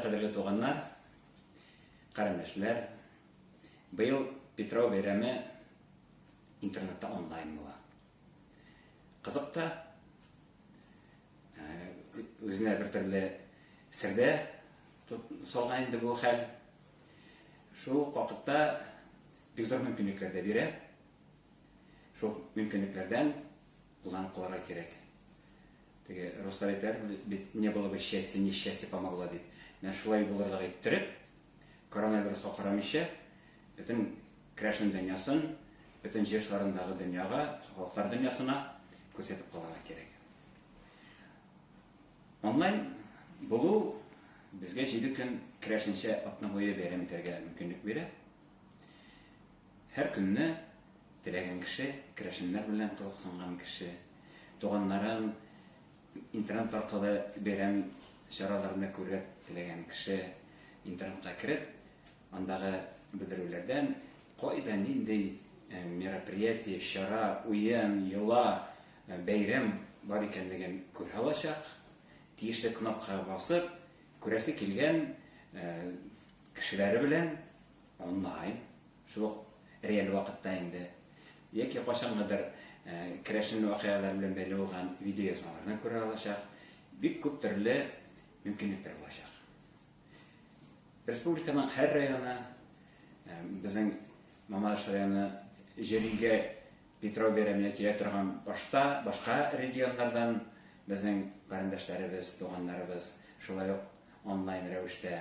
Кадерле туганнар, карендәшләр, быел Петро бәйрәме интернетта онлайн була. Кызык та, үзенә бер төрле сердә салган инде бу хәл. Шул ук вакытта бик зур мөмкинлекләр дә бирә. Шул мөмкинлекләрдән Кулланып калырга кирәк. Теге руслар әйтәр бит, не было бы счастья, несчастье помогло дип. Менә шулай булырлык иттереп, коронавируска карамыйча, бөтен крәшен дөньясын, бөтен җир шарындагы дөньяга, халыклар дөньясына күрсәтеп калырга кирәк. Онлайн булу безгә җиде көн крәшенчә атна буе бәйрәм итәргә мөмкинлек бирә. Һәр көнне теләгән кеше, керәшеннәр белән кызыксынган кеше, туганнарын интернет аркылы бәйрәм чараларында күреп теләгән кеше интернетка кереп, андагы белдерүләрдән кайда нинди мероприятие, чара, уен, йола, бәйрәм бар икәнлеген күрә алачак. Тиешле кнопкага басып, күрәсе килгән кешеләре белән онлайн, шул ук реаль вакытта инде, яки кайчангыдыр керәшен вакыйгалары белән бәйле булган видеоязмаларны күрә алачак, бик күп төрле мөмкинлекләр булачак. Республиканың һәр районы, безнең Мамадыш районы җөригә Петров бәйрәменә килә торган башта башка регионнардан безнең карендәшләребез, туганнарыбыз шулай ук онлайн рәвештә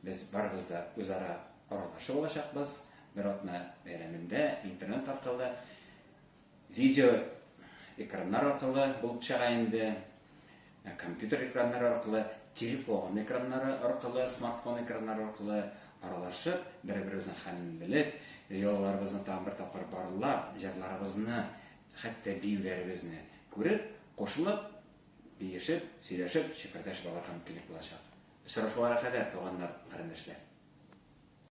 Без барыбыз да үзара аралашып алачакбыз. Бер атна бәйрәмендә интернет аркылы, видео экраннар аркылы булып чыга инде, компьютер экраннары аркылы, телефон экраннары аркылы, смартфон экраннары аркылы аралашып, бер-беребезнең хәлен белеп, йолаларыбызны тагын бер тапкыр барлап, җырларыбызны, хәтта биюләребезне күреп, кушылып, Биешеп, сөйләшеп, чәкәрдәш балар һәм килеп булачак. Очрашуларга кадәр, туганнар, карендәшләр!